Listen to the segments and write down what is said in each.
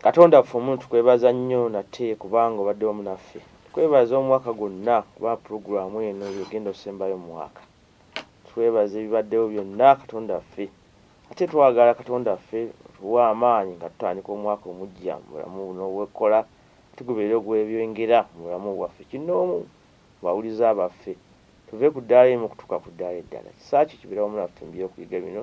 Katonda waffe omuno tukwebaza nnyo nate kubanga obadde wamu naffe. Tukwebaza omwaka gwonna kubanga pulogulamu eno yegenda osembayo mumwaka. Twebaza ebibaddewo byonna Katonda waffe. Ate twagala Katonda waffe otuwe amaanyi nga tutandika omwaka omujja mu bulamu buno obwekola ate gubeere ogwebyengera mu bulamu bwaffe kinnoomu mu bawuliza baffe. Tuve ku ddaala erimu okutuuka ku ddaala eddala. Kisa kyo kibeere wamu naffe mu byokuyiga bino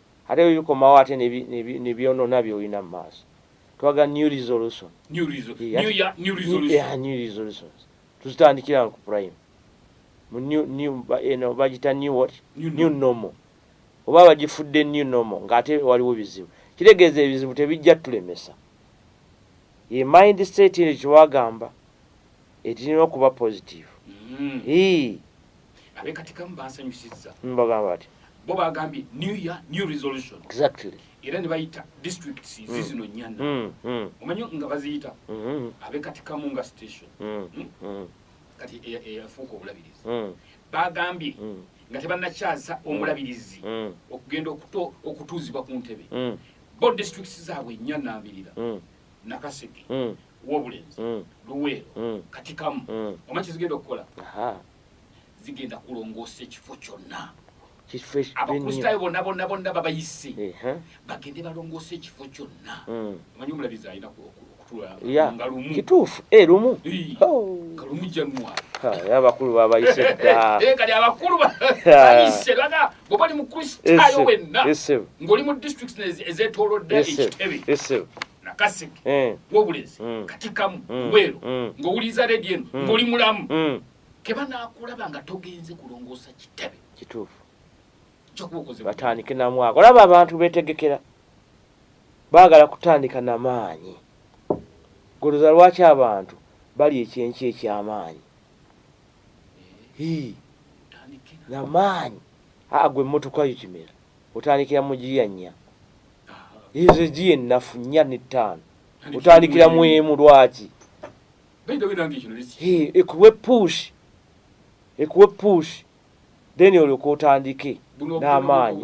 ate bikomawo ate nebyonona byolina mumaaso twaga new resolution new resolution tuzitandikira ku prime eno bagita new what new normal oba bagifudde new normal ngaate waliwo bizibu kitegeeza ebizibu tebijja tulemesa ye mind state eno kyewagamba etirina okuba positive mm. abekatikamu bansanyusizza mbagamba ati bo bagambye new year new resolution exactly era ne bayita districts hmm. zizino mm. nyana mm. mm. omanyi nga baziyita mm. Mm-hmm. abekatikamu nga station mm. Mm. Mm. kati eyafuuka e, e, obulabirizi mm. bagambye mm. nga tebanakyasa mm. omulabirizi mm. okugenda okutuuzibwa ku ntebe mm. bo districts zaabwe nyana abirira mm. nakaseke mm. wobulenzi mm. luweero mm. katikamu mm. omanyi kyezigenda okukola zigenda kulongoosa ekifo kyonna abakristaayo bonna bonna bonna babayise bagende balongoosa ekifo kyonna mm. omanyi omulabizi alina nga lumu kituufu eh, lumu oh. nga lumu januari abakulu babayise dda eh, kati abakulu bayise baga oba oli mukristaayo wenna ng'oli mu district ezetolodde ekitebe nakaseke eh. wobulezi mm. katikamu mm. weero mm. ng'owuliriza redio eno ng'oli mulamu keba nakulaba nga togenze kulongoosa kitebe kituufu batandike namwaka olaba abantu betegekera baagala kutandika na maanyi goloza lwaki abantu bali ekyenki ekyamaanyi namaanyi aa gwe emmotoka yo kimera otandikira mu giya nnya ezo egiya ennafu nnya n'ettaano otandikira mu emu lwaki ekuwe push ekuwe push then olyoka otandike n'amaanyi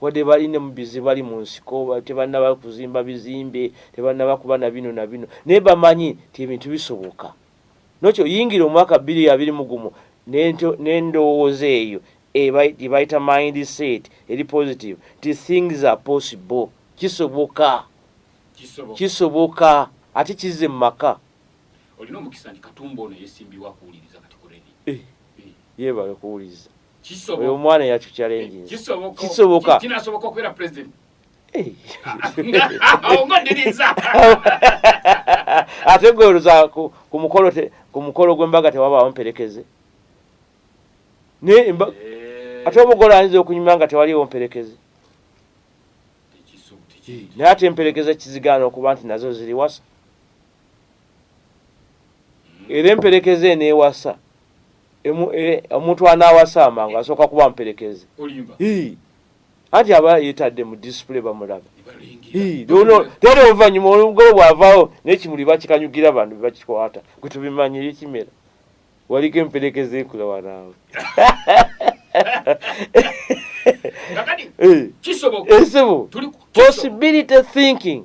Wadde balina mu bizibu bali mu nsiko, tebannaba kuzimba bizimbe, tebannaba kuba na bino na bino, naye bamanyi nti ebintu bisoboka. Nokyo yingira omwaka bbiri abiri mu gumu n'endowooza eyo gye bayita mind set eri positive nti things are possible, kisoboka, kisoboka ate kizze mu maka. Olina omukisa nti Katumba ono yesimbyewo akuwuliriza kati ku radio. Eh, eh. Yebale kuwuliriza. oyo omwana yacu challenge kisoboka kinasoboka okubeera president ate gwe oluza ku mukolo ku mukolo gw'embaga tewabaawo mperekeze naye eh. ate omugole ayinza okunyuma nga tewaliwo mperekeze naye ate emperekeze kizigaana okuba nti nazo ziri wasa era emperekeze eneewasa e, omuntu anaawasa amangu asooka kuba mperekeze anti aba yetadde mu disipule bamulaba tera oluvannyuma olugolo bwavaawo nekimuli bakikanyugira bantu bebakikwata gwe tubimanyire kimera waliko emperekeze ekula wanaawe eh. possibility thinking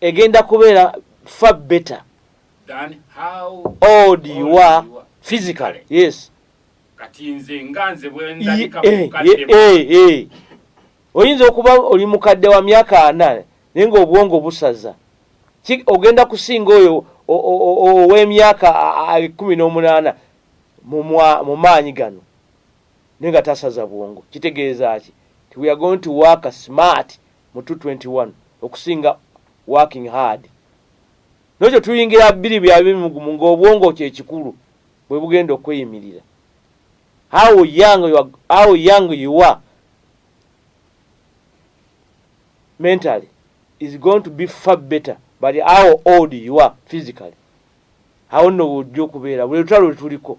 egenda kubeera far better than how old you are physically yes kati nze nga nze bwendabika eh, mukadde eh, eh, oyinza okuba oli mukadde wa myaka ana naye nga obwongo busaza ogenda kusinga oyo ow'emyaka kumi n'omunaana mu maanyi gano naye nga tasaza bwongo kitegeeza ki ti we are going to work smart mu 221 okusinga working hard nokyo tuyingira biri bya bimugumu ng'obwongo kyekikulu bwe bugenda okweyimirira how young you are, how young you are mentally is going to be far better but how old you are physically awo nno wojja okubeera buli lutalo lwetuliko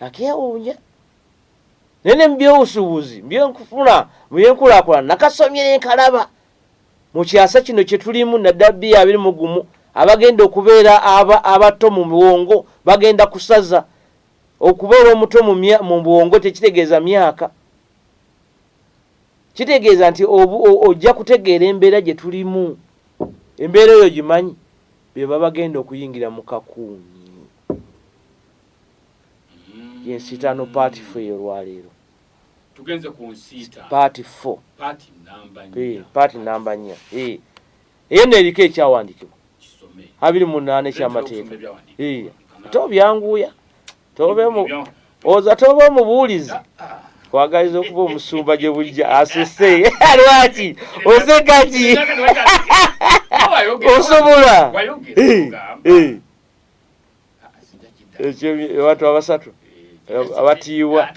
nakeewuunya naye ne mubyobusuubuzi mbyenkufuna mubyenkulakulana nakasomye nenkalaba mu kyasa kino kye tulimu naddala bbi abiri mu gumu abagenda okubeera abato mu bwongo bagenda kusaza okubeera omuto mu bwongo tekitegeeza myaka kitegeeza nti ojja kutegeera embeera gye tulimu embeera eyo gimanyi be babagenda okuyingira mu kakuumi yensitaano part fo eyolwaleero tugenze ku nsiita part fo part namba nnya eh, eyo no eriko ekyawandikibwa abiri mu naana ekyamateeka eh, ate obyanguya oza toba omubuulizi ah, ah. kwagaliza okuba omusumba gye bujja asese lwaki osekaki osobola abantu abasatu abatiibwa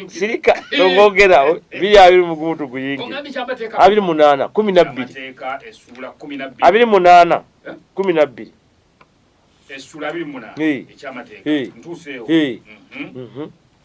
sirika ongogera biri abiri mugumutu guyingi abiri munana kumi nabbiri abiri munana kumi nabbiri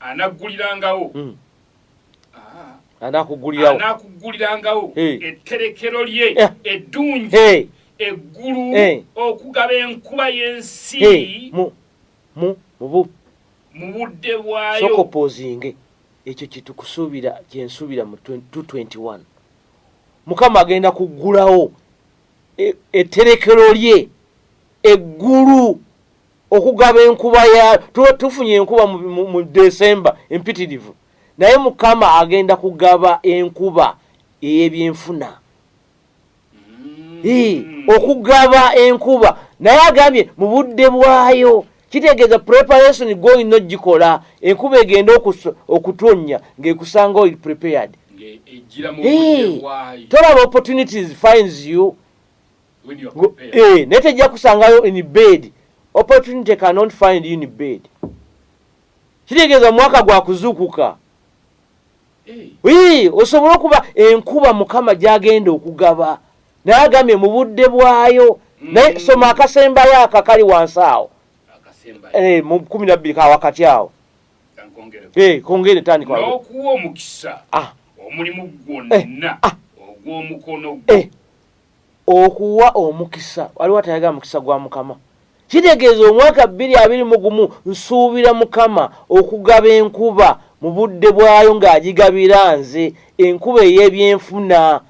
anaggulirangawo hmm. ah. anakuggulirangawo anakuggulirangawo etterekero lye eh. eddungi eggulu okugaba enkuba y'ensi mu mu mu mu budde bwayo sokopozinge ekyo kitukusuubira kyensuubira mu 221 mukama agenda kuggulawo etterekero e, lye eggulu okugaba enkuba ya tuba tufunye enkuba mu desemba empitirivu naye mukama agenda kugaba enkuba eyebyenfuna mm. okugaba enkuba naye agambye mu budde bwayo kitegeeza preparation goyina ogikola enkuba egenda okutonnya ngaekusanga oli prepared tolaba opportunities finds you eh, naye tejja kusangayo in bed opportunity cannot find in bed kitegeeza omwaka gwa kuzuukuka ii osobola okuba enkuba mukama gyagenda okugaba naye agambye mu budde bwayo naye mm. soma akasembayo aka kali wansi awo eh, mu kumi nabbiri ka wakati awo eh, kongere tandikaokuwa omukisa ah. omulimu gwonna eh, ah. ogw'omukono gwo Okuwa omukisa, waliwo atayagala mukisa gwa Mukama? Kitegeeza omwaka bbiri abiri mu gumu nsuubira Mukama okugaba enkuba mu budde bwayo ng'agigabira nze, enkuba ey'ebyenfuna.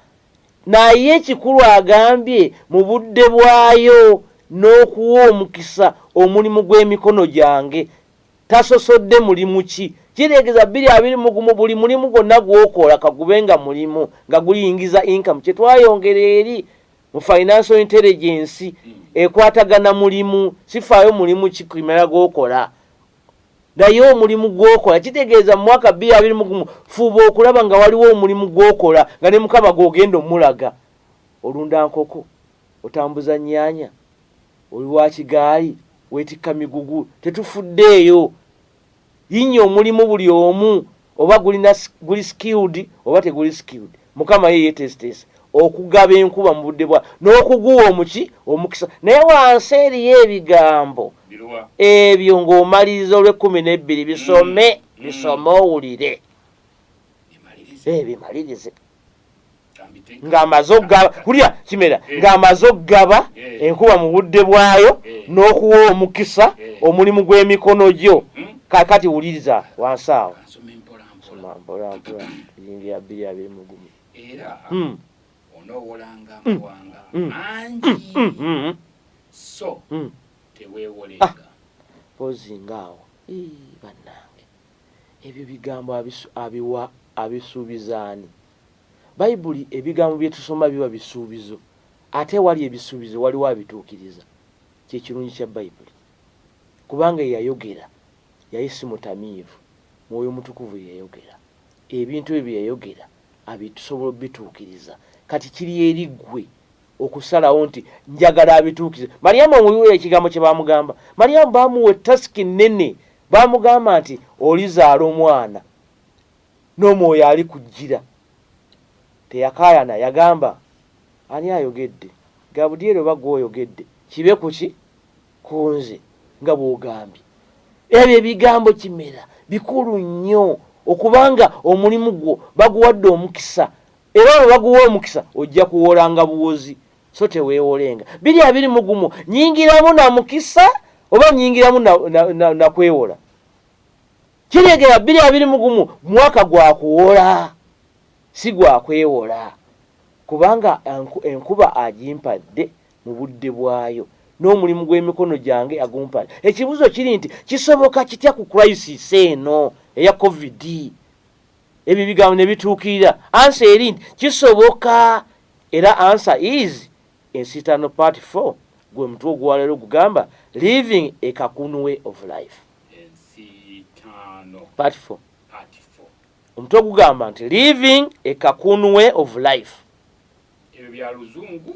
Naye ekikulu agambye mu budde bwayo n'okuwa omukisa omulimu gw'emikono gyange. tasosodde mulimu ki kireegeza bbiri abiri mu gumu buli mulimu gwonna gwokola kagube nga mulimu nga guyingiza inkamu kye twayongera eri mu financial intelligence ekwatagana mulimu sifaayo mulimu kikimera gwokola naye omulimu gwokola kitegeeza mumwaka bbiri abiri mugumu fuuba okulaba nga waliwo omulimu gwokola nga ne mukama gwogenda omulaga olunda nkoko Otambuza nnyaanya? Oli wa kigaali? Weetikka migugu? Tetufuddeeyo. Yinnya omulimu buli omu oba gulina guli skilled oba teguli skilled. Mukama ye yeeteeseteese okugaba enkuba mu budde bwa n'okuguwa omuki omukisa. Naye wansi eriyo ebigambo ebyo ng'omaliriza olw'ekkumi n'ebbiri bisome mm. bisome owulire. Ebimalirize. ng'amaze okugaba kulya kimera eh. ng'amaze okugaba eh. enkuba mu budde bwayo eh. n'okuwa omukisa omulimu gw'emikono gyo hmm? kakati wuliriza wansi awo ozinga awo bannange Ebyo bigambo abiwa abisuubiza ani? Baibuli ebigambo bye tusoma biba bisuubizo. Ate ewali ebisuubizo waliwo abituukiriza. Kye kirungi kya Baibuli. Kubanga eyayogera yali si mutamiivu. Mwoyo Mutukuvu yayogera. Ebintu ebyo bye yayogera abitusobola obituukiriza. Kati kiri eri ggwe okusalawo nti njagala abituukize malyamu omubiwula ekigambo kye baamugamba malyamu baamuwa ettasiki nnene baamugamba nti olizaala omwana n'omwoyo ali kujjira teyakaayana yagamba ani ayogedde gabudyeri oba gwe oyogedde kibe ku ki ku nze nga bw'ogambye ebyo ebigambo kimera bikulu nnyo okubanga omulimu gwo baguwadde omukisa era olwo baguwa omukisa ojja kuwoolanga buwozi so teweewolenga biri abiri mugumu nyingiramu na mukisa oba nyingiramu nakwewola na, na kiregera biri abiri mugumu mwaka gwa kuwola si gwa kwewola kubanga enkuba agimpadde mu budde bwayo n'omulimu gw'emikono gyange agumpadde ekibuuzo kiri nti kisoboka kitya ku crisis eno eya covid ebyo ebigambo ne bituukirira ansa eri nti kisoboka era ansa is ensitano part 4 gwe mutwe ogwaleero gugamba living a kakunu way of life part 4 omutwe ogugamba nti living a kakunu way of life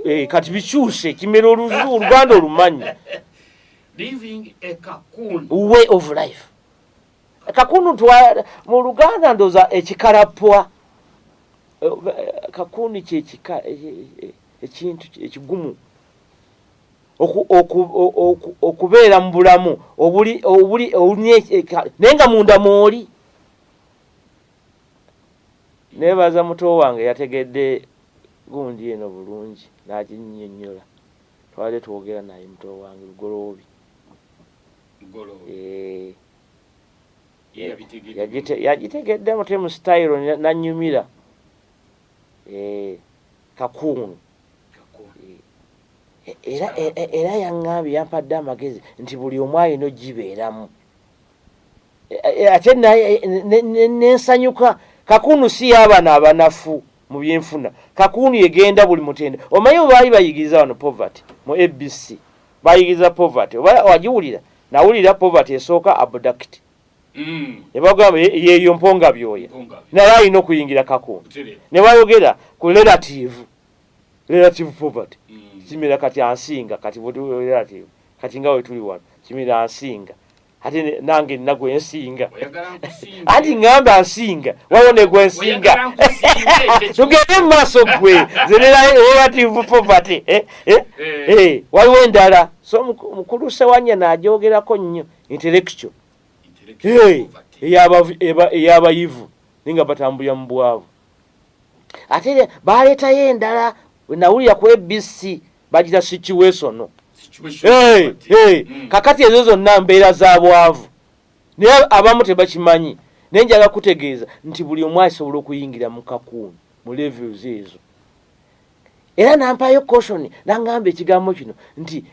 eh, kati bikyuse kimera oluganda olumanyi way of life kakunu mu luganda ndoza ekikalapwa eh, eh, kakunu kyekika eh, ekintu ekigumu okubeera mu bulamu obuli obuli naye nga munda mwoli nebaza muto wange yategedde gundi eno bulungi naginyonyola twali twogera naye muto wange lugoloobi eh, yagitegedde mutemu sitayiro nanyumira eh, kakuunu eh, era yaŋŋambye yampadde amagezi nti buli omu alina ogibeeramu ate nensanyuka kakuunu si yaabana abanafu mu byenfuna kakuunu yegenda buli mutende omanyi obaali bayigiriza wano poverty mu abc Bayigiriza poverty oba wagiwulira nawulira poverty esooka abduct mm. ne bagamba yeeyo mponga byoya naye alina okuyingira kakundu ne bayogera ku relative relative poverty mm. kimira kati ansinga kati relative kati nga wetuli wano kimira ansinga ate nange nina gwensinga anti ngamba nsinga wawo ne gwensinga tugende mu maaso gwe relative poverty eh, eh, eh. eh waliwo endala so mukulu sewanya najogerako nnyo intellectual eyabayivu ninga batambulira mu bwavu ate baleetayo endala nawulira ku abc bagira situation hey, hey. Mm. kakati ezo zonna mbeera za bwavu naye abamu tebakimanyi naye njala kutegeeza nti buli omu asobola okuyingira mu kakuuni mu levels ezo era nampayo caution nangamba ekigambo kino nti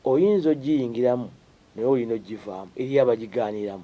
oyinza ogiyingiramu naye olina ogivaamu eriyo abagigaaniramu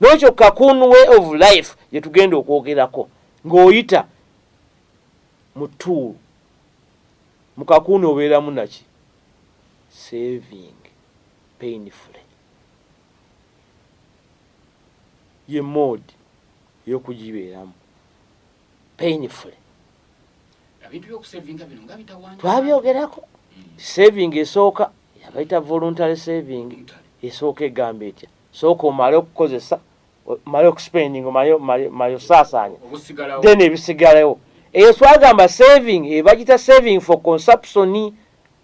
N'ekyo kakun way of life gye tugenda okwogerako ng'oyita mu tuulu mu kakuuni obeeramu naki saving painfully ye moodi eyokugibeeramu painfully twabyogerako hmm. saving esooka yabaita voluntary saving esooka egamba etya sooka omale okukozesa omale okuspending omale osaasaanya then ebisigalawo eyo twagamba saving ebagita eh, saving for consumption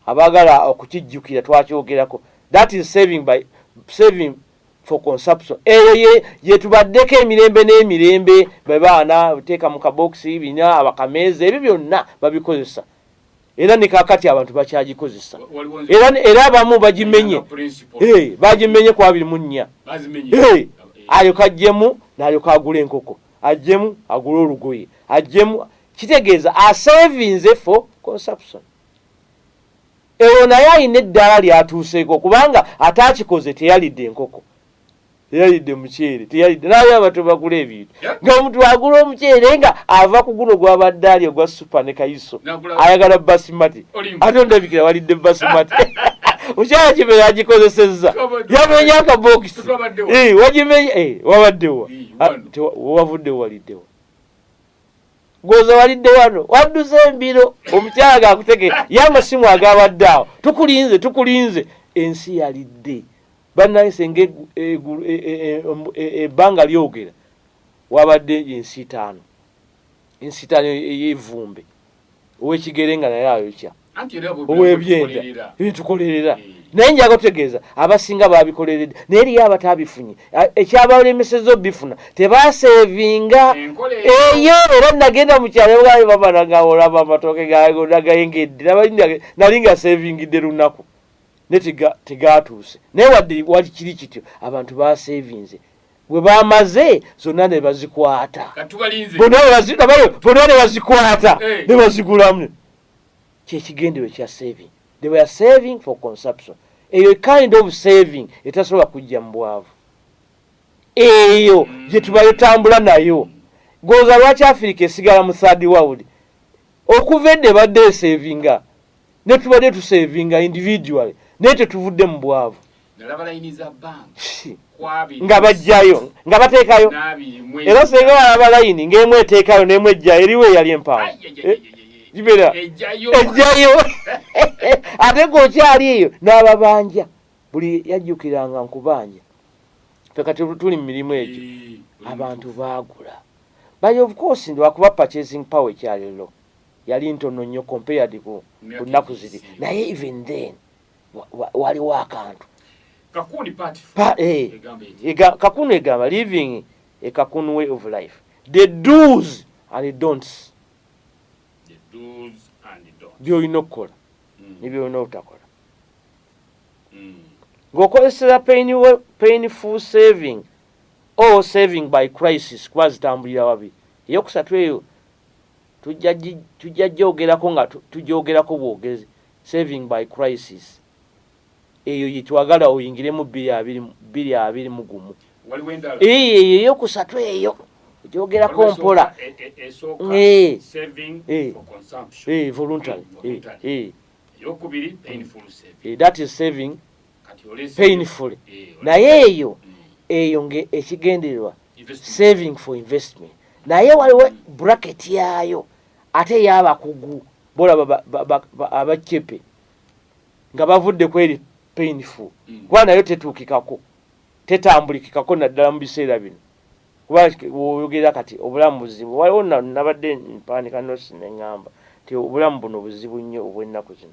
abagala okukijjukira twakyogerako that is saving by saving for consumption eyo ye yetubaddeko emirembe n'emirembe bebaana teeka mu kabokisi bina abakameeza ebyo byonna babikozesa era ne kakati abantu bakyagikozesa era abamu bagimenye eh, bagimenye ku abiri mu nnya eh, alyoka ajjemu nalyoka agula enkoko ajjemu agula olugoye ajjemu kitegeeza asevinze for consumption ewo naye alina eddaala lyatuuseeko kubanga ate akikoze teyalidde enkoko teyalidde muceere teyalidde naye abato bagula ebintu nga omuntu agula omuceere nga ava ku guno gwabadde ali ogwa supa ne kayiso ayagala basimati ate ondabikira walidde basimati mukyala kime yagikozesezza yamenya akabokisi eh, wagimenya eh, wabaddewa ah, wavudde waliddewa gwoza walidde wano wadduze embiro omukyala gakutegee yamasimu agabadde awo tukulinze tukulinze ensi yalidde Bannange senga ebbanga e, e, e, lyogera wabadde ensitaano ensitaano ey'evvumbe ow'ekigere nga naye ayokya ow'ebyenda byetukolerera eh. naye njaga otegeeza abasinga babikoleredde naye eriyo abataabifunye ekyabalemeseza obifuna tebaseevinga eyo era nagenda mu kyalo bwayo bamanagaolaba amatooke gagayengedde nali nga seevingidde lunaku ne tegaatuuse naye wadde wali kiri kityo abantu basevinze bwe bamaze zonna ne bazikwata bona ne bazikwata eh. ne bazigulamu kyekigendewe kya saving they were saving for consumption eyo kind of saving etasobola kujja mu bwavu eyo mm. gye tubayo tambula nayo goza lwaki afirika esigala mu third world okuva edde badde esavinga ne tubadde tusevinga individually naye tetuvudde mu bwavu nga bajjayo nga bateekayo era senga walaba layini ng'emu eteekayo n'emu ejjayo eriwo eyali empaawo kibera ejjayo ate g'okyali eyo n'ababanja buli yajjukiranga nkubanja fe kati tuli mu mirimu egyo abantu baagula by of course ndi wakuba purchasing power ekyaliro yali ntono nnyo compared ku nnaku ziri naye even then waliwo akantu eh, kakunu egamba living a kakunu way of life the dos and donts byolina okukola hmm. nebyolina obutakola hmm. ng'okozeseza painful saving or saving by crisis kuba zitambulira wabi eyokusatu eyo tujja gyogerako nga tugyogerako bwogezi saving by crisis eyo yetwagala oyingiremu bbiri abiri mu gumu eyo eyokusatu eyo gyogerako mpola voluntary that is saving painfully eh, naye eyo hmm. eyo nga ekigendererwa saving for investment naye waliwo hmm. bracket yayo ate yabakugu bolaba abacepe nga bavudde kweri painful hmm. kuba nayo tetuukikako tetambulikikako naddala mu biseera bino kuba oyogera kati obulamu buzibu waliwo nabadde mpandika nosi neŋamba nti obulamu buno buzibu nnyo obwennaku zino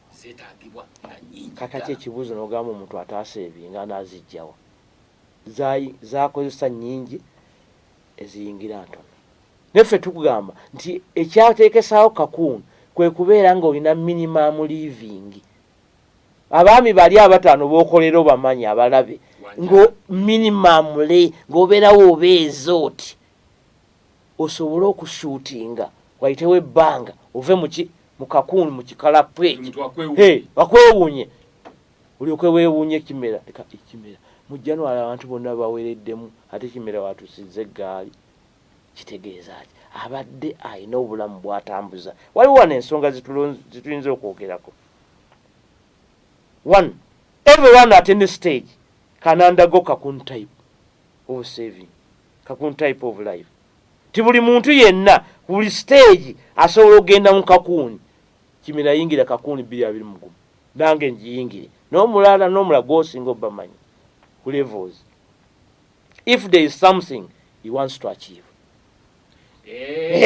zetagibwa nga nyingi kakati ekibuzo nogamba omuntu ataasa ebi nga nazijjawa zakozesa nyingi eziyingira ntono neffe tukugamba nti ekyatekesawo kakuuni kwe kubeera nga olina minimum living abaami bali abataano bokolera obamanyi abalabe ngo minimum le ngaobeerawo obeeza oti osobole okusuutinga wayitewo ebbanga ove muki mukakuuni mukikalapwe bakwewuunye olyoke weewuunye ekimera ekimera mu january abantu bonna bawereddemu ate kimera watusiza eggaali kitegeeza ki abadde alina obulamu bwatambuza waliwo wano ensonga zituyinza okwogerako one everyone at any stage kanandago kakun type of saving kakun type of life ti buli muntu yenna ku buli siteegi asobola okugenda mu kakuuni kimina yingira kakuuni bbiri abiri mugumu nange ngiyingire n'omulala n'omulala gwosinga obamanyi ku levels if there is something he wants to achieve eh,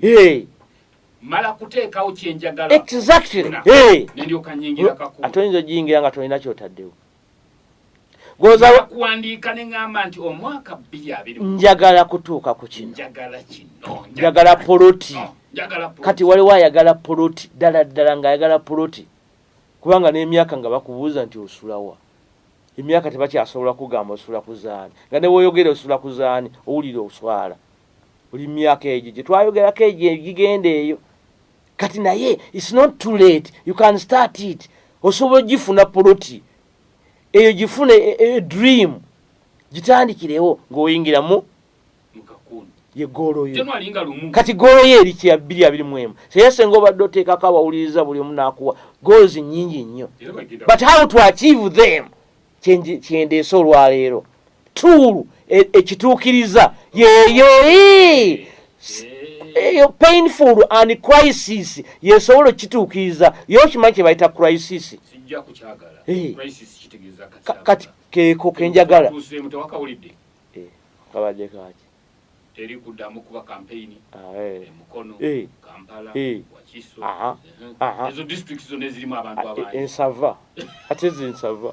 eh. mala kuteekawo kyenjagala exactly eh. ate oyinza ogiyingira nga tolina kyotaddewo kuwandiika ne ŋŋamba nti omwaka bbiri abiri njagala kutuuka ku kino njagala kino njagala poloti oh, kati waliwo ayagala poloti ddala ddala ng'ayagala poloti kubanga n'emyaka nga bakubuuza nti osulawa emyaka tebakyasobola kugamba osula kuzaani nga ne woyogera osula kuzaani owulira oswala oli myaka egyo gye twayogerako egyo egigenda eyo kati naye its not too late you can start it osobola ogifuna poloti eyo gifuna e, e, dream gitandikirewo ngaoyingiramu yegoloyo kati goloyo eri kya bbiri abiri mu emu seyesenga obadde oteekako abawuliriza buli omu nakuwa goals nyingi nnyo but how to achieve them kyendeese olwaleero tuulu e, ekituukiriza yeeyo eyo painful and crisis yesobola okukituukiriza ye okimanyi kye bayita crisis eh. kati keeko kenjagala eh, kabadde kaki Teri kudamu kuba campaign e Mukono, Kampala, Wakiso. Aha. Aha. Ezo districts zona ezirimu abantu abangi. Ensava. Ate zinsava.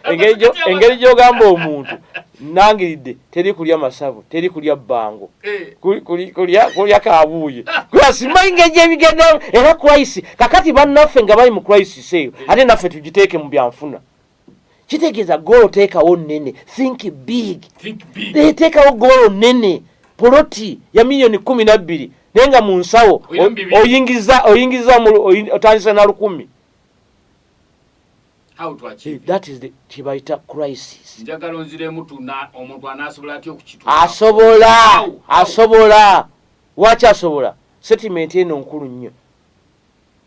Engeri jo engeri jo gamba omuntu nangiridde teri kulya masavu teri kulya bbango eh. kulya kabuuye simanyi ngeri gyebigendamu era crisis kakati bannaffe nga bali mu crisis eyo ate naffe tugiteeke mu byanfuna kitegeeza goolo teekawo nnene think big eteekawo goolo nnene poloti ya miliyoni kumi nabbiri naye nga mu nsawo oyingiza oyingiza otandisa na lukumi kyebayita crisis asobola asobola waki asobola setimenti eno nkulu nnyo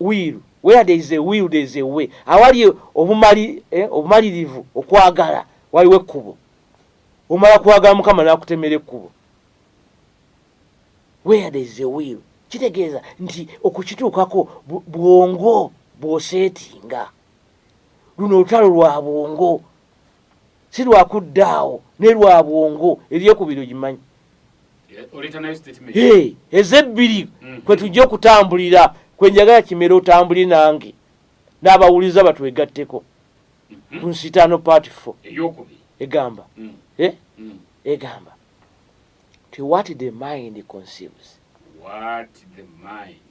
wiiru where there is a will there is a way awali obumali eh, obumalirivu okwagala waliwo ekkubo omala kwagala mukama nakutemera ekkubo where there is a will kitegeeza nti okukituukako bwongo bwoseetinga luno olutalo lwa bwongo si lwa kudda awo ne lwa bwongo ebyokubiri ogimanyi eh, ezebbiri mm. kwe tujja okutambulira kwe njagala kimera otambuli nange n'abawuliza batwegatteko mm-hmm. ku nsitaano part fo egamba mm. eh? mm. egamba ti what the mind conceives what the mind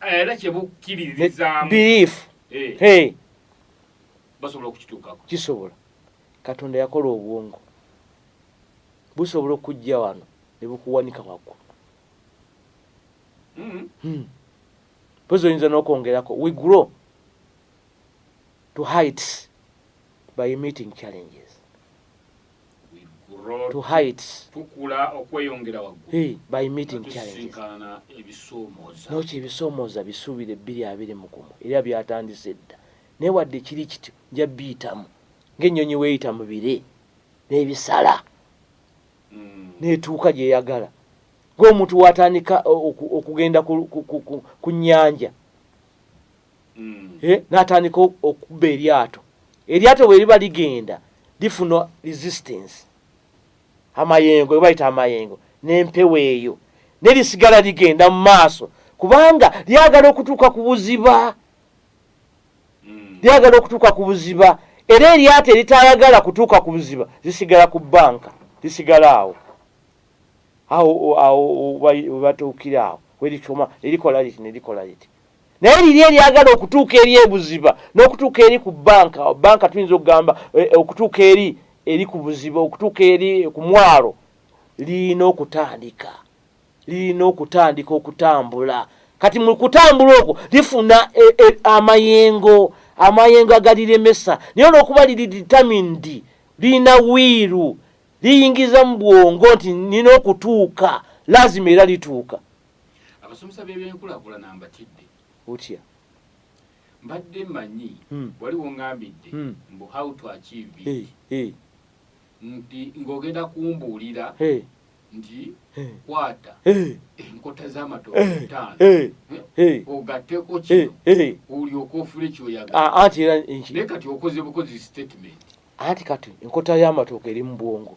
era kye bukkiririzaamu belief eh. hey basobola okukituukako kisobola katonda yakola obwongo busobola okujja wano ne bukuwanika waggulu mm-hmm. hmm. pozi oyinza n'okwongerako we grow to heights by meeting challenges to heights tukula okweyongera waggulu hey, by meeting challenges ebisoomoza nokyo ebisoomoza bisuubira ebbiri abiri mu gumu era byatandise dda naye wadde kiri kityo nja biyitamu ng'ennyonyi weeyita mu bire n'ebisala mm. n'etuuka gyeyagala ng'omuntu watandika okugenda ku nnyanja mm. eh, natandika okubba eryato eryato bweriba ligenda lifuna resistance amayengo ebayita amayengo nempewo eyo nerisigala ligenda mu maaso kubanga lyagala okutuuka ku buziba mm. lyagala okutuuka ku buziba era eryato eritayagala kutuuka ku buziba zisigala ku banka lisigala awo awo awo webatuukira awo werikoma erikola liti nerikola liti naye liri eryagala okutuuka eri ebuziba n'okutuuka eri ku banka banka tuyinza okugamba eh, eh, okutuuka eri eri ku buziba okutuuka eri eh, ku mwalo lirina okutandika lirina okutandika okutambula kati mu kutambula okwo lifuna amayengo amayengo agaliremesa naye olwokuba liri determined lirina wiiru liyingiza mu bwongo nti nina okutuuka lazima era lituuka abasomesa b'ebyenkulakulana mbatidde otya mbadde manyi hmm. wali wongambidde hmm. mbu how to achieve it nti ng'ogenda kumbuulira nti kwata enkota z'amatooke ttaano ogatteko kino olyoka ofule kyoyaganaye ah, kati okoze bukozi statement anti kati enkota y'amatooke eri mu bwongo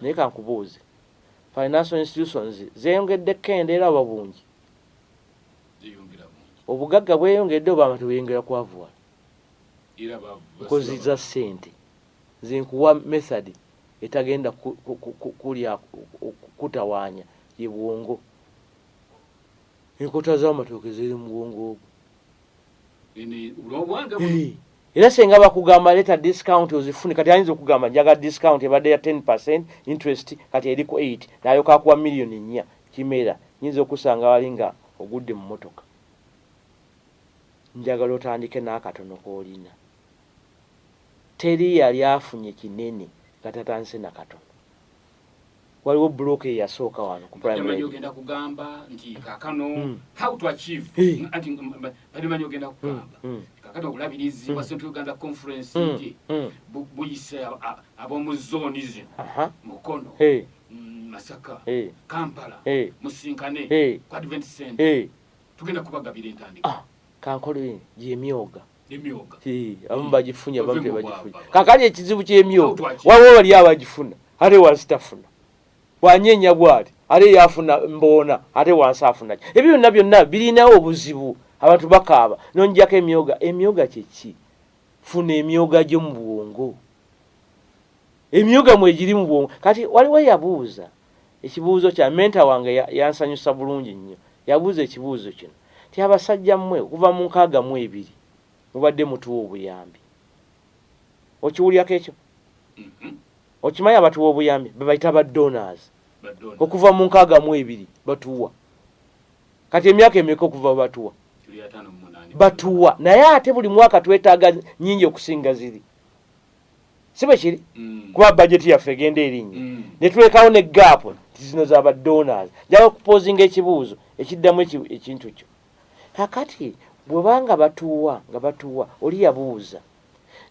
naye kankubuuze financial institutions zeyongedde kendeera oba bungi obugagga bweyongedde oba abantu beyongera kwavuwa nkozi za sente zinkuwa method etagenda kulya kutawaanya ye bwongo enkota z'amatooke ziri mu bwongo obwo Eh. era senga bakugamba leta discount ozifune kati ayinza okugamba njaga discount ebadde ya 10 percent interest kati eriku 8 nayo kakuwa miliyoni nnya kimera nyinza okusanga wali nga ogudde mu motoka njagala otandike n'akatono koolina teri yali afunye kinene nga tatandise nakatono waliwo block eyasooka wano ku primary ogenda kugamba nti kakano hmm. how to achieve anti badimanyi ogenda kugamba hmm. hmm. kakati obulabirizi bwa central uganda conference nti buyise ab'omu zooni zino mukono mm, masaka kampala musinkane ku advent center tugenda kubagabira entandika ah, kankolini gyemyoga abamu bagifunye abamu tebagifunye kakali ekizibu kyemyoga waliwo wali abagifuna ate wansi tafuna bwanyenya bwati ate yafuna mboona ate wansi afunaki ebyo byonna byonna birinawo obuzibu abantu bakaaba nonjako emyoga emyoga kyeki funa emyoga gyo mu bwongo emyoga mwegiri mu bwongo kati waliwo yabuuza Ekibuuzo kya mentor wange yansanyusa bulungi nnyo. Yabuuza ekibuuzo kino nti, Abasajja mmwe okuva mu nkaaga mu ebiri mubadde mutuwa obuyambi. Okiwulirako ekyo? Mm-hmm. Okimanyi abatuwa obuyambi bebayita ba donors. Okuva mu nkaaga mu ebiri batuwa. Kati emyaka emeka okuva batuwa? Batuwa. Naye ate buli mwaka twetaaga nyingi okusinga ziri. si bwe kiri mm. kuba bajeti yaffe egenda erinnya mm. ne tulekawo ne gaapu nti zino za badonors njala okupozinga ekibuuzo ekiddamu ekintu kyo kakati bwebanga batuwa nga batuwa oli yabuuza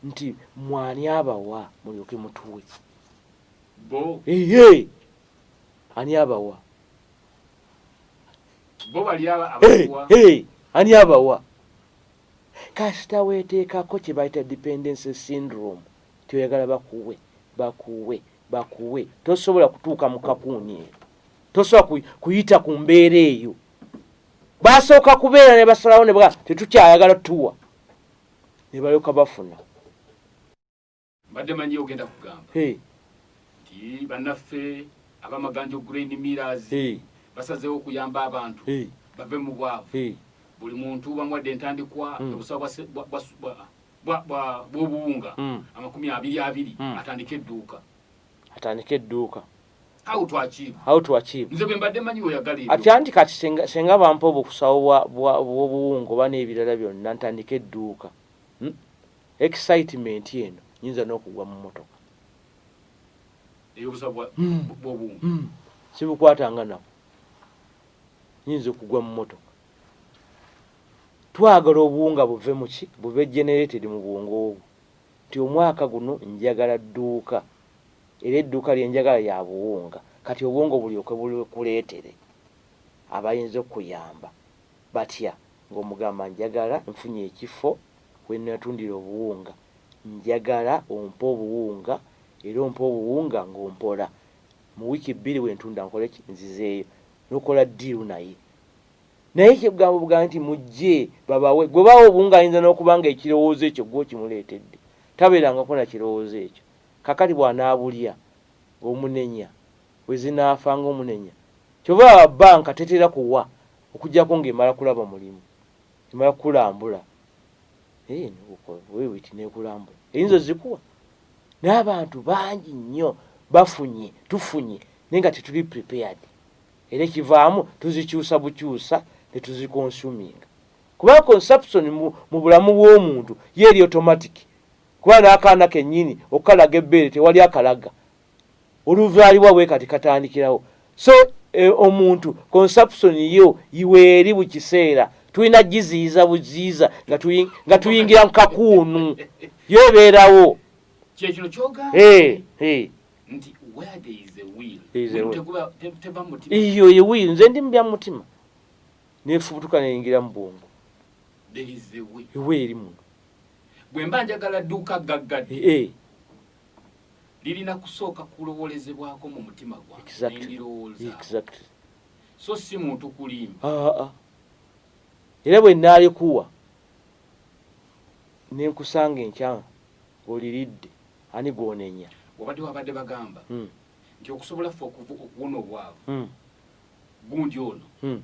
nti mwani abawa mulyoke mutuwe eye ani abawa ani abawa Kasita weteekako kye bayita dependency syndrome nti oyagala bakuwe, bakuwe, bakuwe, tosobola kutuuka mu kakuuni eyo. Tosobola kuyita ku mbeera eyo. Basooka kubeera ne basalawo ne baga tetukyayagala tuwa ne balyoka bafuna. mbadde manyi ogenda kugamba nti bannaffe abamaganjo grain miras basazeewo okuyamba abantu bave mu bwavu buli muntu bamuwadde entandikwa hmm. obusawa bw'obuwunga hmm. amakumi abiri abiri hmm. atandike edduuka atandike edduuka atyanti kati senga bampa obukusawo bwobuwunga oba n'ebirala byonna ntandika edduuka hmm? Excitement eno nyinza nokugwa mu motoka. Eyobusa bwa mm. bwobu. Mm. Sibukwata nga nako. Nyinza okugwa mu motoka. Twagala obuwunga buve muki buve generated mu bwongo obwo. Nti omwaka guno njagala dduuka. Era edduuka lye njagala ya buwunga. Kati obwongo bulyoke bulikuleetere abayinza okuyamba. batya ng'omugamba njagala nfunye ekifo we nnatundira obuwunga njagala ompe obuwunga era ompe obuwunga ng'ompola mu wiiki bbiri bwe ntunda nkole ki nzizeeyo n'okola ddiiru naye naye ekigambo bugambo nti mujje babawe gwe bawa obuwunga ayinza n'okuba nga ekirowoozo ekyo gwe okimuleetedde tabeerangako na kirowoozo ekyo kakati bw'anaabulya ng'omunenya wezinaafa nga omunenya. Kyova olaba banka tetera kuwa okujako nga emala kulaba mulimu, emala kukulambula eeh negukola wewiti nekulambula eyinza ozikuwa naye abantu bangi nnyo bafunye tufunye naye nga tetuli prepared era ekivaamu tuzikyusa bukyusa netuzikonsuminga kubanga consumption mu bulamu bw'omuntu ye eri automatic kuba n'akaana kennyini okukalaga ebbeere tewali akalaga oluzalibwa bwe kati katandikirawo so e, omuntu consumption yo iweeri buli kiseera tulina giziyiza buziyiza nga tuyingira mu kakuunu yo ebeerawo iyo yewiiri nze ndi mubya mutima nefubutuka neyingira mu bwongo iweeri muno bwemba njagala duuka gaggadde lirina kusooka kulowolezebwako mu mutima gwange nendirowooza so si muntu kulimba ah, ah, ah. era bwe naalikuwa nenkusanga enkyama oliridde ani gwonenya obadde wabadde bagamba hmm. nti okusobola ffe okuwona obwavu hmm. gundi ono hmm.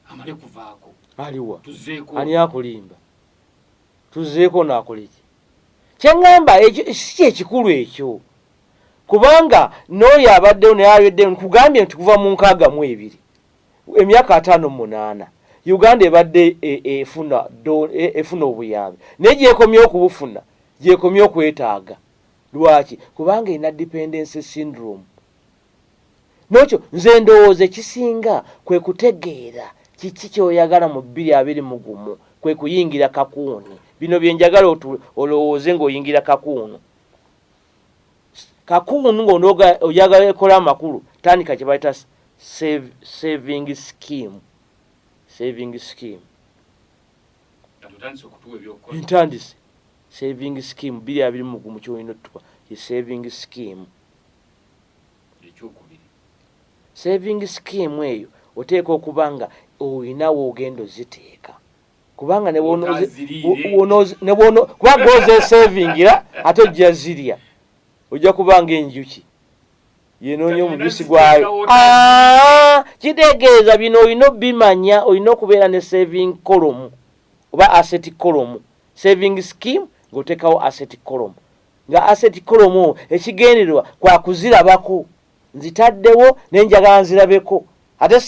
amale kuvaako aliwa tuzeeko ani akulimba tuzeeko naakoleki kyeŋŋamba ekyo si kyekikulu ekyo kubanga n'oyo abaddewo naye ayoddeyo nkugambye nti kuva mu nkaaga mu ebiri emyaka ataano mu munaana uganda ebadde e, e, efuna e, efuna obuyambi naye gyekomye okubufuna gyekomye okwetaaga lwaki kubanga erina dependence syndrome nokyo nze ndowooza ekisinga kwe kutegeera kiki kyoyagala mu bbiri abiri mu gumu kwe kuyingira kakuuni bino bye njagala olowooze ng'oyingira kakuunu kakuunu ng'onooga oyagala ekola amakulu tandika kye bayita saving scheme saving scheme ntandise saving scheme biri abiri mugumu kyolina otuka ye saving scheme ekyokubiri saving scheme eyo oteeka okuba nga olina woogenda oziteeka kubanga kubanga ozesavingira ate ojja zirya ojja kubanga enjuki yenoonya omubisi gwayo ah, kitegeeza bino olina obimanya olina okubeera ne saving kolomu oba asset kolomu saving scheme ng'oteekawo asset kolomu nga asset kolomu ekigendererwa kwa kuzirabako nzitaddewo ne njagala nzirabeko ate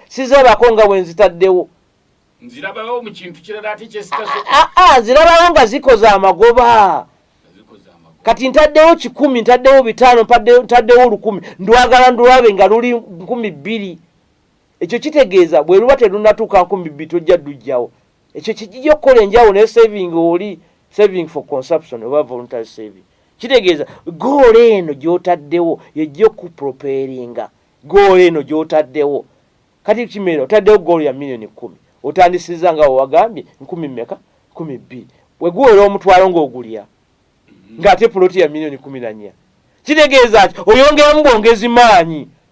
sizirabako nga bwe nzitaddewo nzirabawo mu kintu kirala ate kyesitaso ah, ah, ah, nzirabawo nga zikoze amagoba kati ntaddewo kikumi ntaddewo bitaano ntaddewo olukumi ndwagala ndwabe nga luli nkumi bbiri ekyo kitegeeza bwe luba terunatuuka nkumi bbiri tojja ddujjawo ekyo kijija okukola enjawulo ne saving oli saving for consumption oba voluntary saving kitegeeza goola eno gyotaddewo yejja okuproperinga goola eno gyotaddewo kati kimera otaddewo goolo ya millioni kumi otandisiza nga wewagambye nkumi meka kumi bbiri weguwera omutwalo ngaogulya ngaate puloti ya millioni kumi nanya kitegeeza nti oyongeramu bwongezi maanyi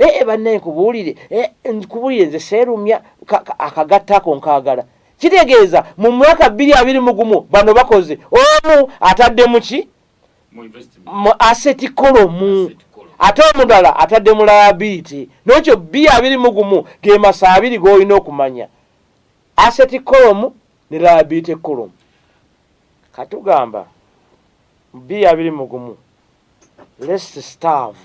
ee eh, eh, bannaye nkubuulire eh, nkubuulire nze seerumya akagatta ako nkaagala kitegeeza mu mwaka bbiri abiri mu gumu bano bakoze omu atadde mu ki mu aseti kolomu ate omudala atadde mu layabiiti n'ekyo bbiri abiri mu gumu ge masa abiri g'olina okumanya aseti kolomu ne layabiiti kolomu katugamba bbiri abiri mu gumu lesi staavu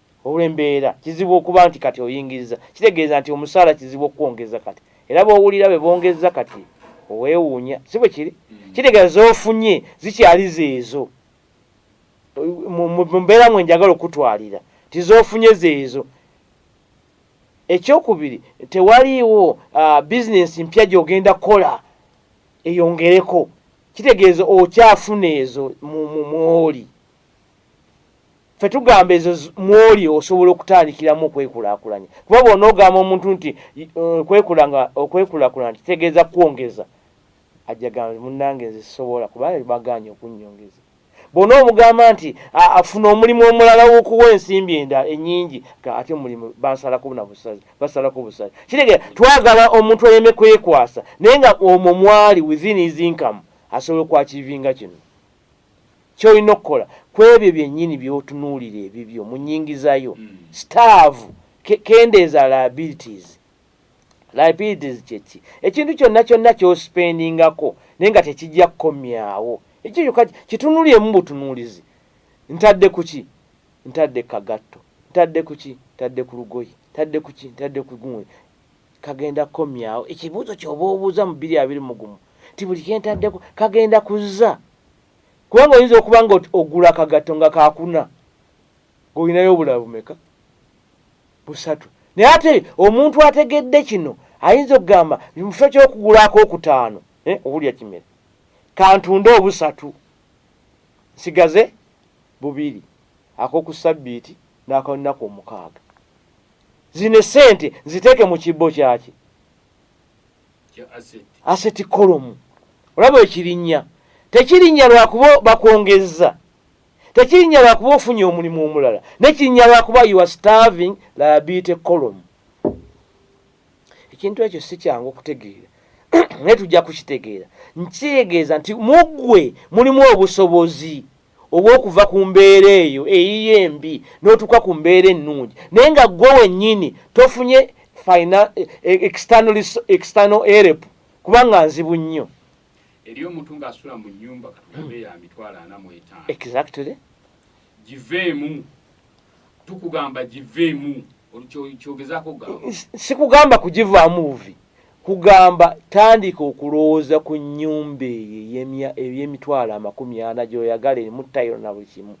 Olw'embeera, kizibu okuba nti kati oyingizza. Kitegeeza nti omusaala kizibu okukwongeza kati. Era bw'owulira bwe bongezza kati owewuunya. Si bwe kiri? Mm. Kitegeeza z'ofunye zikyali zeezo. Mu mbeera mwe njagala okutwalira nti z'ofunye zeezo. Ekyokubiri, tewaliiwo uh, bizinensi mpya gy'ogenda kukola eyongereko. Kitegeeza okyafuna ezo mu mwoli. ffe tugamba ezo mwoli osobola okutandikiramu okwekulakulanya kuba bona ogamba omuntu nti okwekulakulanya kitegeeza kwongeza ajjagamba munange nze sisobola kuba baganye okunyongeza bona omugamba nti afuna omulimu omulala wokuwa ensimbi enda enyingi ate omulimu basalako na busazi basalako busazi kitegeeza twagala omuntu ayeme kwekwasa naye nga omwo mwali within his income asobola okwakivinga kino Ky'olina okukola kw'ebyo byennyini by'otunuulira ebibyo mu nnyingiza yo. Hmm. Sitaavu, kendeeza liabilities. Liabilities kye ki? Ekintu kyonna kyonna ky'osipendingako naye nga tekijja kukomyawo. Ekyo kyokka kitunuulyemu butunuulizi. Ntadde ku ki? Ntadde kagatto. Ntadde ku ki? Ntadde ku lugoye. Ntadde ku ki? Ntadde ku gundi. kagenda kukomyawo ekibuuzo kyoba obuuza mu biri abiri mugumu nti buli kyentaddeko kagenda kuzza kubanga oyinza okuba nga ogula akagatto nga kakuna ngaolinayo obula bumeka busatu naye ate omuntu ategedde kino ayinza okugamba mukifo kyokugulako okutaano eh, obulya kimere kantunde obusatu nsigaze bubiri akokusabbiiti n'akalunaku omukaaga zino esente ziteeke mu kibbo kyaki aseti kolomu olaba ekirinya tekirinya lwakuba bakwongezza tekirinya lwakuba ofunye omulimu omulala nekirinya lwakuba you are starving liability column ekintu ekyo si kyangu okutegeera naye tujja kukitegeera nkitegeeza nti muggwe mulimu obusobozi oba okuva ku mbeera eyo eyiyo embi n'otuuka ku mbeera ennungi naye nga ggwe wennyini tofunye eh, external erep kubanga nzibu nnyo eri omuntu ng'asula mu nnyumba katugambe ya mitwalo ana mu etaano exactly giveemu tukugamba giveemu kyogezaako gamba sikugamba kugivaamu buvi Nkugamba tandika okulowooza ku nnyumba eyo ey'emya ey'emitwalo amakumi ana gy'oyagala erimu tayiro na buli kimu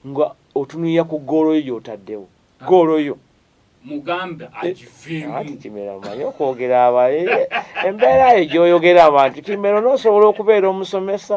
nga otunuulira ku ggoolo yo gy'otaddewo. Ggoolo yo. Mugambe eh, agiveemu. Anti Kimera omanyi okwogera aba embeera yo gy'oyogera abantu Kimera onoosobola okubeera omusomesa.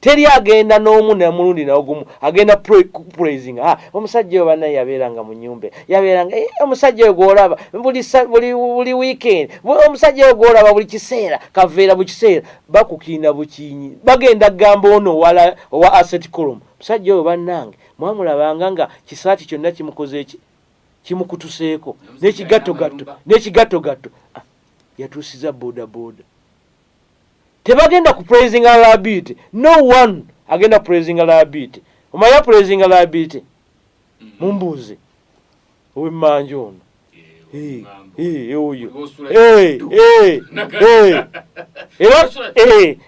teri agenda n'omu namulundi naogumu agenda praising ah, omusajja oyo banaye yabeeranga mu nyumba yabeeranga eh, omusajja oyo gwolaba buli weekend omusajja oyo gwolaba buli kiseera kaveera bu kiseera bakukiina bukinyi bagenda kugamba ono owala owa asset colom omusajja oyo bannange mwamulabanga nga kisaati kyonna kimukoze eki kimukutuseeko n'ekigattogatto n'ekigattogatto ah, yatuusiza bodaboda tebagenda ku praisinga liability no one agenda praisinga liability omanya praisinga liability mm. mumbuuze owemmanja ono oyo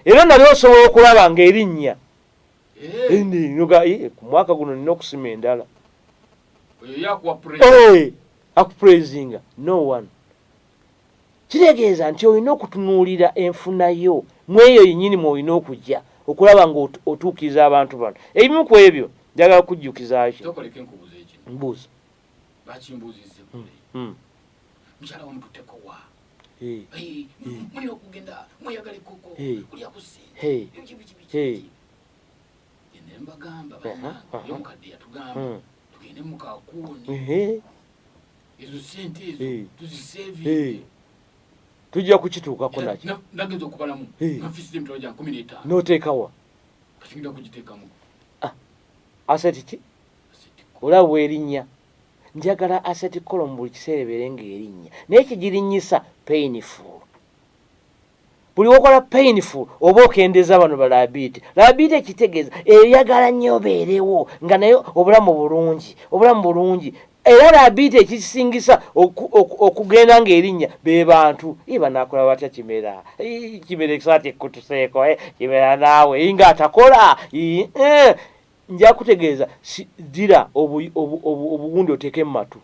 era nali osobola okulaba nga erinnya eh. ku mwaka guno nina okusima endala akupraisinga no one kitegeeza nti olina okutunuulira enfuna yo mu eyo yennyini mwolina okujja okulaba ng'otuukiriza abantu bano ebimu ku ebyo njagala kujjukizaki mbuuza mukyala wamututeko wa mulina okugenda mweyagala ekoko kulya kusi gende mbagamba banange yomukadde yatugamba tugende mukakuuni ezo sente ezo eh. tuzisevinge hey. Eh. tujja kukituukako nakyo nagenza okubalamu nafisi emitwalo gya nkumi n'etaano n'oteekawa kati ngenda kugiteekamu ah, aseti ki olaba bwerinnya njagala aseti kolo mu buli kiseera ebeere ng'erinnya naye kigirinnyisa painful buli wokola painful oba okendeza bano balabiiti labiiti ekitegeeza eyagala nnyo obeerewo nga naye obulamu bulungi obulamu bulungi era labiiti ekisingisa okugenda ngaerinnya be bantu i banakola batya kimera kimera ekisaati ekkutuseeko eh, kimera naawe inga atakola eh, nja kutegeeza dira obuwundi oteeke mu matu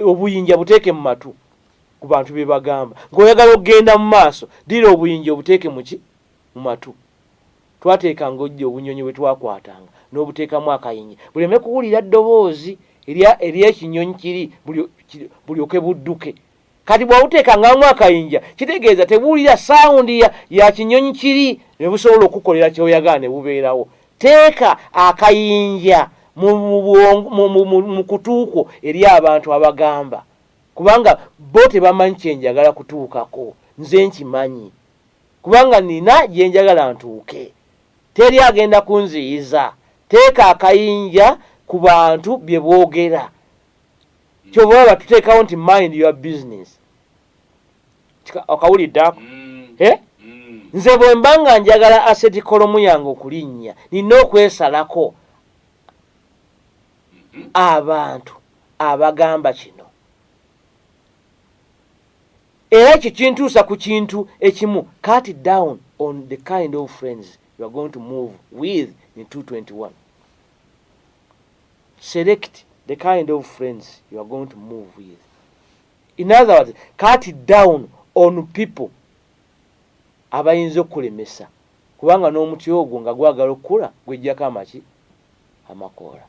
obuyinja buteeke mu matu ku bantu bye bagamba ng'oyagala okugenda mu maaso ddira obuyinja obuteeke muki mu matu twateekanga ojja obunyonyi bwe twakwatanga n'obuteekamu akayinja buleme kuwulira ddoboozi ery'ekinyonyi kiri bulyoke budduke Kati bw'obuteeka ngamu akayinja kitegeeza tebuwulira sawundi ya, ya kinyonyi kiri ne busobola okukukolera ky'oyagala ne bubeerawo. Teeka akayinja mu, mu, bwongo, mu, mu, mu, mu kutu kwo eri abantu abagamba kubanga bo tebamanyi kye njagala kutuukako. Nze nkimanyi kubanga nnina gye njagala ntuuke. Teri agenda kunziyiza. Teeka akayinja ku bantu bye boogera. kyova olaba tuteekawo nti mind your business okawulidde ako mm. eh? mm. nze bwe mba nga njagala aseti kolomu yange okulinnya nina okwesalako mm-hmm. abantu abagamba kino era ekyo kintuusa ku kintu ekimu cut down on the kind of friends youare going to move with in 221 select the kind of friends you are going to move with in other words cut down on people abayinza okukulemesa kubanga n'omuti ogwo nga gwagala okukula gwejjako amaki amakoola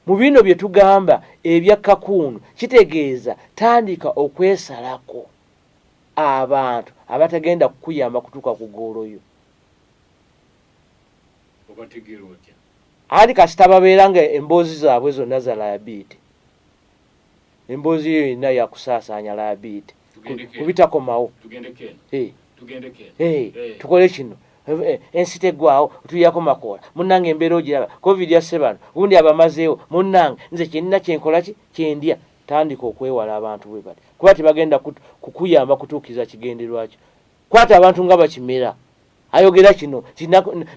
mu bino bye tugamba ebya kakuunu kitegeeza tandika okwesalako abantu abatagenda kukuyamba kutuuka ku goolo yo obategera otya anti kasita babeera nga emboozi zaabwe zonna za layabiiti emboozi eyo yonna yakusaasaanya layabiiti kubitakomawo tukole kino eh, ensi teggwawo tuyako makoola munnange embeera ogiraba covid yasse bano gundi abamazeewo munnange nze kyenina kyenkola ki kyendya tandika okwewala abantu bwe bati kuba tebagenda kukuyamba kutuukiriza kigenderwakyo kwata abantu nga bakimera ayogera kino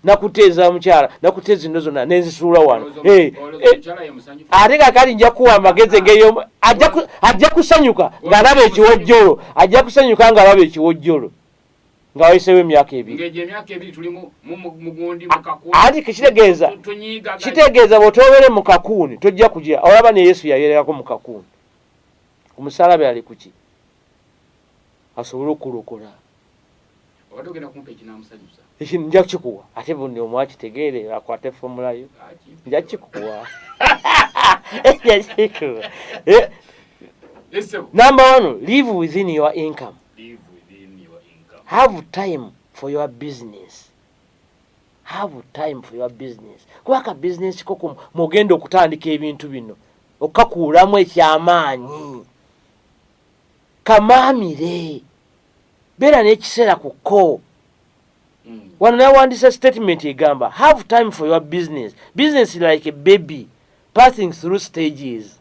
nakuteeza mukyala nakuteeza ino zona nenzisuula wano eh, eh, ate kakali nja kuwa amagezi engeyo ajja kusanyuka ngaalaba ekiwojjolo ajja kusanyuka ngaalaba ekiwojjolo nga wayisewo emyaka ebiri anti kitegeeza kitegeeza bwetobere mu kakuuni tojja kugira olaba ne yesu yayerekako mu kakuuni omusalaba yali kuki asobole okulokola ekintu nja kukikuwa ate buni omu akitegeere akwata efomulayo nja kikuwa number one live within your income have time for your business have time for your business kuba ka business koko mugenda okutandika ebintu bino okakuulamu ekyamaanyi kamaamire beera n'ekiseera ku kko hmm. wano nawandiisa statement egamba have time for your business business like a baby passing through stages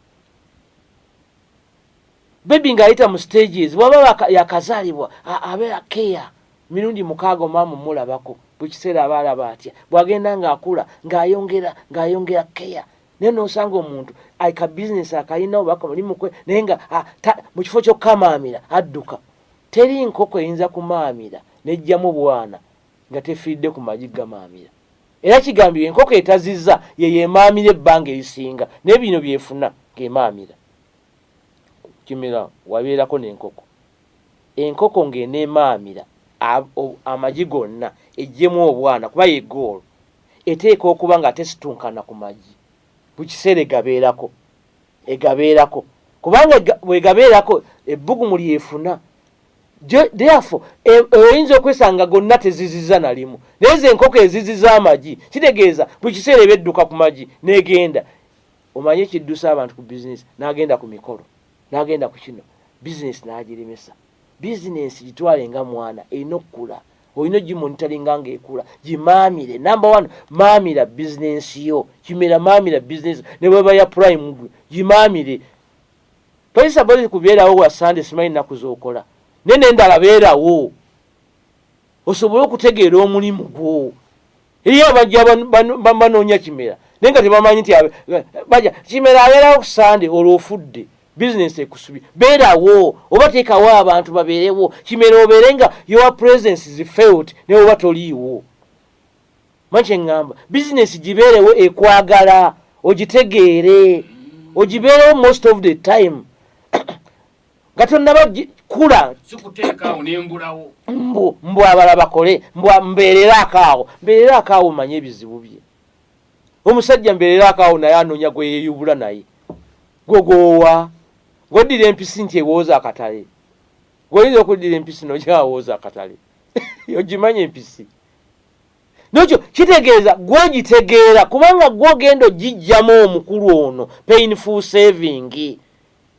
bebi ng'ayita mu stages waba yakazaalibwa abeera keya mirundi mukaaga omaamu mulabako buli kiseera aba alaba atya bw'agenda ng'akula ng'ayongera ng'ayongera keya naye nosanga omuntu ka bizinesi akalina oba kamulimukwe naye nga ah, mu kifo kyokukamaamira adduka teri nkoko eyinza kumaamira nejjamu bwana nga tefiiridde ku magi gamaamira era kigambibwa enkoko etaziza yeyo emaamira ebbanga erisinga naye bino byefuna ngemaamira kimira wabeerako nenkoko enkoko ng'eneemaamira amagi gonna ejjemu obwana kuba yegoolo Eteekwa okuba nga tesitunkana ku magi buli kiseera egabeerako egabeerako kubanga bwegabeerako ebbugumu lyefuna therefore e, e, oyinza okwesanga gonna teziziza nalimu naye ze enkoko eziziza amagi kitegeeza buli kiseera eba edduka ku magi negenda omanyi ekiddusa abantu ku bizinesi nagenda ku mikolo nagenda ku kino bizinesi nagiremesa bizinesi gitwale nga mwana erina okukula olina ogimonitalinga nga ekula gimaamire number one maamira bizinensi yo kimera maamira bizinensi ne bweba ya prime gwe gimaamire tolisa bozi kubeerawo wa sande simanyi nnaku z'okola naye nendala beerawo osobole okutegeera omulimu gwo Eri abajja banoonya kimera naye nga tebamanyi nti baja kimera abeerawo ku sande olwo ofudde bizinesi ekusubi beerawo oba teekawo abantu babeerewo kimera obeere nga your presence is felt naye oba toliiwo manyi kyeŋŋamba bizinesi gibeerewo ekwagala ogitegeere ogibeerewo most of the time nga tonnaba kula sikuteekaawo nembulawo mbu mbu abala bakole mbu mbeereraako awo mbeereraako awo manye ebizibu bye omusajja mbeereraako awo naye anoonya gwe yeeyubula naye gwe gwowa gwoddira empisi nti ewooza akatale gwoyinza okuddira empisi nogyawooza akatale ogimanya empisi nokyo kitegeeza gwogitegeera kubanga gwogenda ogijjamu omukulu ono painful savingi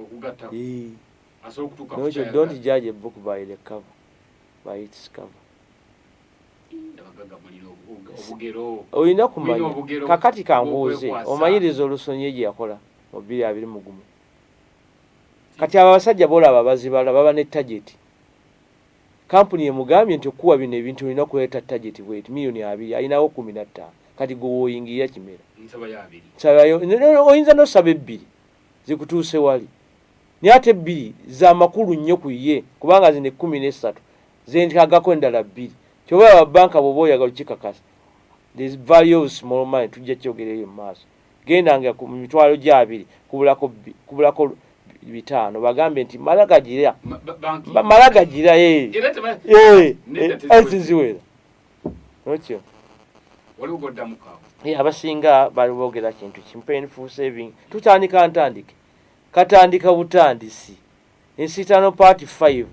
okugatta asobola okutuuka ku kyayagala don't judge a book by the cover by its cover olina kumanya kakati kambuuze omanyiriza olusonyi gye yakola mu bbiri abiri mu gumu kati abo abasajja boolaba bazibala baba ne tageti kampuni emugambye nti okukuwa bino ebintu olina kuleeta tageti bweti miliyoni abiri alinawo kumi nattaano kati gwe woyingirira kimera oyinza nosaba ebbiri zikutuuse wali naye ate ebbiri za makulu nnyo ku ye kubanga zino ekkumi n'essatu zentagako endala bbiri kyoba olaba bbanka bw'oba oyagala okikakasa the value of small money tujja kyogera eyo mu maaso genda nga mu mitwalo gya abiri kubulako kubulako bitaano bagambe nti mala gagira mala gagira ekinziwera eh, eh, eh, okyo waliwo goddamu kawo ye abasinga bali boogera kintu kimpeni full saving tutandika ntandike katandika butandisi ensitano part 5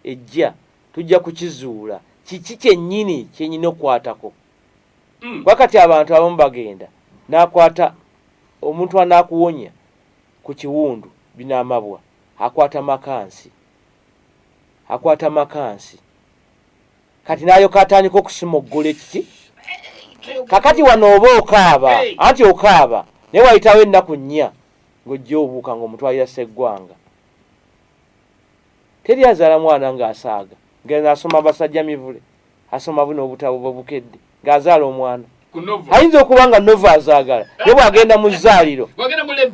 ejja tujja kukizuula kiki kyennyini kyenyina okukwatako mm. kuba kati abantu abamu bagenda nakwata omuntu anakuwonya ku kiwundu binamabwa akwata makansi akwata makansi kati nayoka atandika okusima okugula ekiki kakati wano oba okaaba anti okaaba naye wayitawo ennaku nnya ng'ojja obuuka ng'omutwalira seggwanga teri azaala mwana ng'asaaga ngeno asoma basajja mivule asoma buno obutabo bwe bukedde ng'azaala omwana ayinza okuba nga nova azaagala naye bw'agenda mu zzaaliro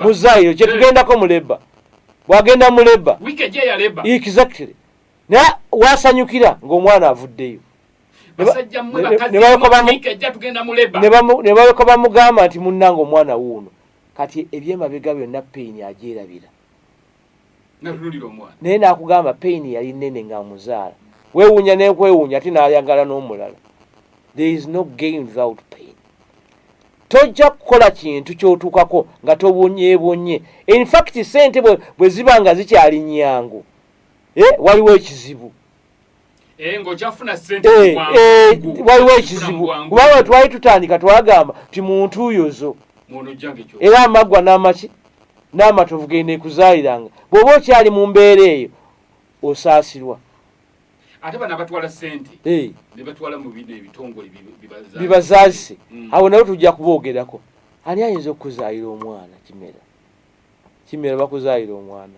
mu zzaaliro kyetugendako mu leba bw'agenda mu leba exactly naye wasanyukira ng'omwana avuddeyo nebaleka bamugamba nti munnanga omwana wuuno kati ebyemabega byonna peyini agyerabira naye nakugamba peyini yali nene nga muzaala wewunya nekwewunya ate nayagala n'omulala there is no gain without pain tojja kukola kintu kyotuukako nga tobonyebonye infact sente bwe ziba nga zikyali nyangu eh, waliwo ekizibu eh, eh, waliwo ekizibu kubanga twali tutandika twagamba ti muntu uyozo era amaggwa n'amaki n'amatovu genda ekuzaaliranga bw'oba okyali mu mbeera eyo osaasirwa ate bana batwala sente eh. ne batwala mu bide ebitongole bibazaazise mm. awo nawe tujja kuboogerako ani ayinza okukuzaayira omwana kimera kimera bakuzaayira omwana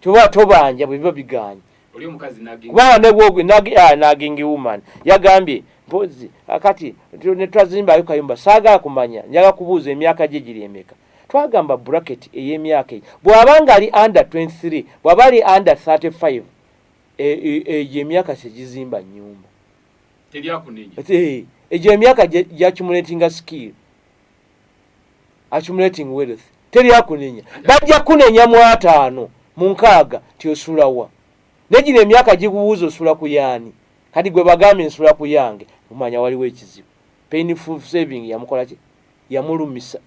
toba tobanja bwe biba bigaanye kubanga nebwogwe nagingi ah, woman yagambye mpozi ah, kati netwazimbayo kayumba saagala kumanya njaga kubuuza emyaka gye giri emeka twagamba bracket ey'emyaka eyo bw'aba nga ali under 23 bw'aba ali under 35 egyo emyaka kyegizimba nyumba egyo emyaka gyakimuletinga skill accumulating wealth teri akunenya bajja kunenya mu ataano mu nkaaga nti osulawa naye gino emyaka gikubuuza osula ku yaani kati gwe bagambye nsula ku yange omanya waliwo ekizibu painful saving yamukolaki yamulumisa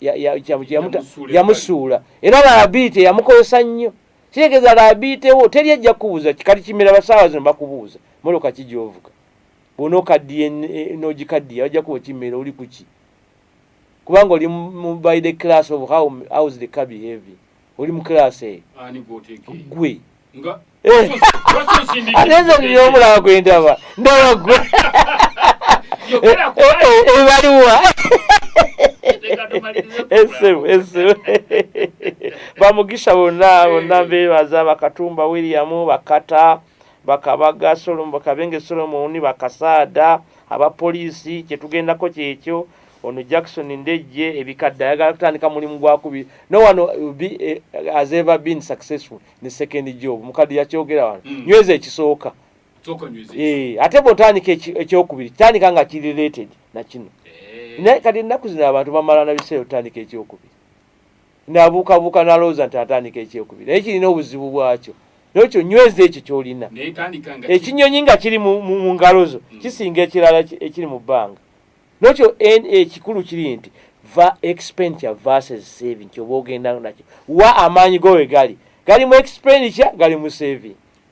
yamusuula era laabiite yamukozesa nnyo kitegeeza laabiitewo teri ejja kukubuuza kikati kimera basaawa zino bakubuuza moloka ki gyovuga bwonaokaddiye nogikaddiye bajja kuba okimera oli kuki kubanga oli by the class of how hows the car behave oli mu class eyo gwe eh. atenze nina omulaba gwe ndaba ndaba gwe ebaliwa esimu esimu bamugisha bonna bonna bebaza bakatumba william bakata bakabaga solo bakabenge solomoni bakasaada aba poliisi kyetugendako kyekyo ono jackson ndejje ebikadde ayagala kutandika mulimu gwakubi no wano eh, has ever been successful ne second job mukadde yakyogera wano mm. nyweza ekisooka eh, ate bwotandika ekyokubiri tandika nga ki related nakino eh. naye kati ennaku zino abantu bamalana biseera otandika ekyokubiri nabuukabuuka nalowooza nti atandika ekyokubiri naye kirina obuzibu bwakyo nokyo nyweza ekyo kyolina ekinyonyi nga kiri mu ngalo zo mm. kisinga ekirala ekiri mu bbanga nokyo ekikulu kiri nti va expenditure versus saving kyoba ogenda nakyo wa amaanyi go we gali gali mu expenditure gali mu saving